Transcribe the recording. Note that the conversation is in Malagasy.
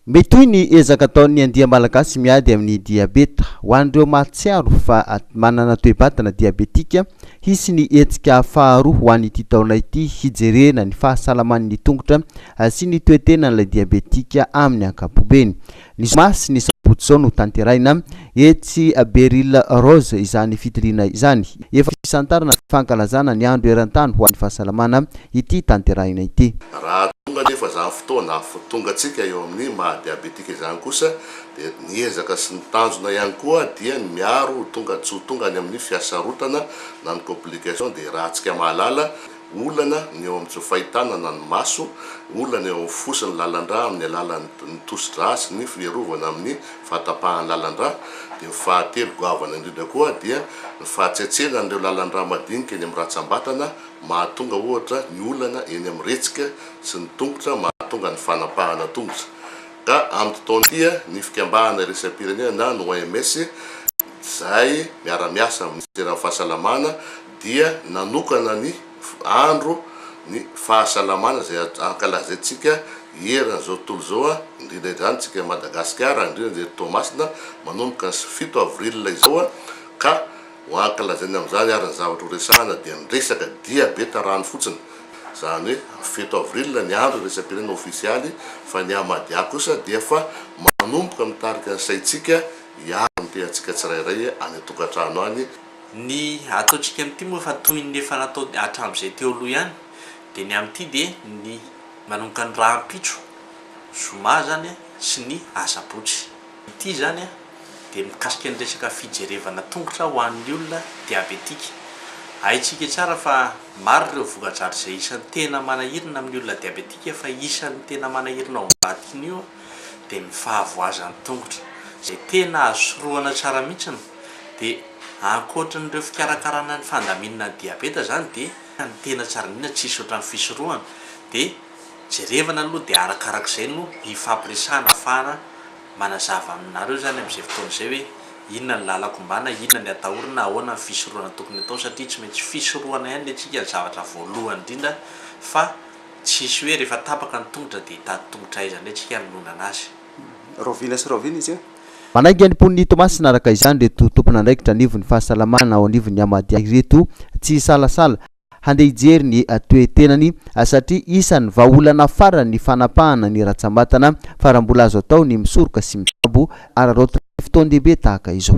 Mitohy ny ezaka ataon'ny andia malagasy miady amin'ny diabeta. Ho an'ireo mahatsiaro fa manana toe-batana diabetika, hisy ny hetsika faharoa ho an'ity taona ity hijerena ny fahasalaman'ny tongotra sy ny toe-tenan'ilay diabetika amin'ny ankapobeny. Ny zoma sy ny sabotsy izao no tanterahina etsy Beryl Rose izany fitiliana izany. Efa fisantarana ny fankalazana ny andro eran-tany ho an'ny fahasalamana ity tanterahina ity. Raha tonga anefa izany fotoana afotongantsika eo amin'ny maha diabetika izany kosa dia ny ezaka sy ny tanjona ihany koa dia ny miaro ho tonga tsy ho tonga any amin'ny fiasarotana na ny complication dia raha antsika mahalala Olana ny eo amin'ny tsy fahitana na ny maso, olana eo amin'ny fo sy ny lalan-drà amin'ny alalan'ny tosi-drà sy ny fiarovana amin'ny fahatapahan'ny lalan-drà, dia ny fahatelo goavana indrindra koa dia ny fahatsetseana an'ireo lalan-drà madinika eny amin'ny ratsambatana mahatonga ohatra ny olana eny amin'ny retsika sy ny tongotra mahatonga ny fanapahana tongotra ka amin'ity taona ity ny fikambahana iraisam-pirenena na ny OMS izay miara-miasa amin'ny minisiteran'ny fahasalamana dia nanokana ny andro ny fahasalamana izay ankalazaintsika hierana izao tontolo izao a, indrindra indrindra antsika Madagasikara, indrindra indrindra eto Toamasina, manomboka ny fito avril izao a, ka ho ankalazaina amin'izany ary ny zavatra ho resahana dia ny resaka dia be tarano fotsiny, izany hoe fito avril ny andro iraisam-pirenena ofisialy fa ny Hamadia kosa dia efa manomboka mitarika ny saintsika hiaro ny tenantsika tsirairay any an-tokantrano any, Ny ataontsika amin'ity moa efa toy ny efa natao hatramin'izay teo aloha ihany, dia ny amin'ity dia ny manomboka ny rahampitso, zoma izany, sy ny asabotsy. Ity izany dia mikasika ny resaka fijerevana tongotra ho an'ny olona diabetika. Haintsika tsara fa maro ireo voka-dratsy izay isan'ny tena manahirana amin'ny olona diabetika fa isan'ny tena manahirana ao ambadikin'io dia ny fahavoazan'ny tongotra izay tena azo sorohana tsara mihitsy ny. Dia ankoatry ny ireo fikarakarana ny fandaminana ny diabeta izany dia ny tena tsara indrindra tsisy ohatran'ny fisorohana dia jerevana aloha dia arakarak'izay no hifampiresahana afahana manazava aminareo izany amin'izay fotoana izay hoe inona ny lalako ombana, inona ny atahorana, ahoana ny fisorohana tokony atao satria tsy maintsy fisorohana ihany le tsika ny zavatra voalohany indrindra fa tsisy hoe rehefa tapaka ny tongotra dia hitady tongotra aiza indray tsika hanononana azy. Raovila sy rahoviana izy io? Manainga ny mponin'i Toamasina araka izany ireto tompon'andraikitra anivon'ny fahasalamana ao anivon'ny Amadia ireto tsy hisalasala handeha hijery ny toe-tenany satria isan'ny vahaolana farany ny fanapahana ny ratsambatana fa raha mbola azo atao ny misoroka sy mitsabo araraotin'ny fotoan-dehibe tahaka izao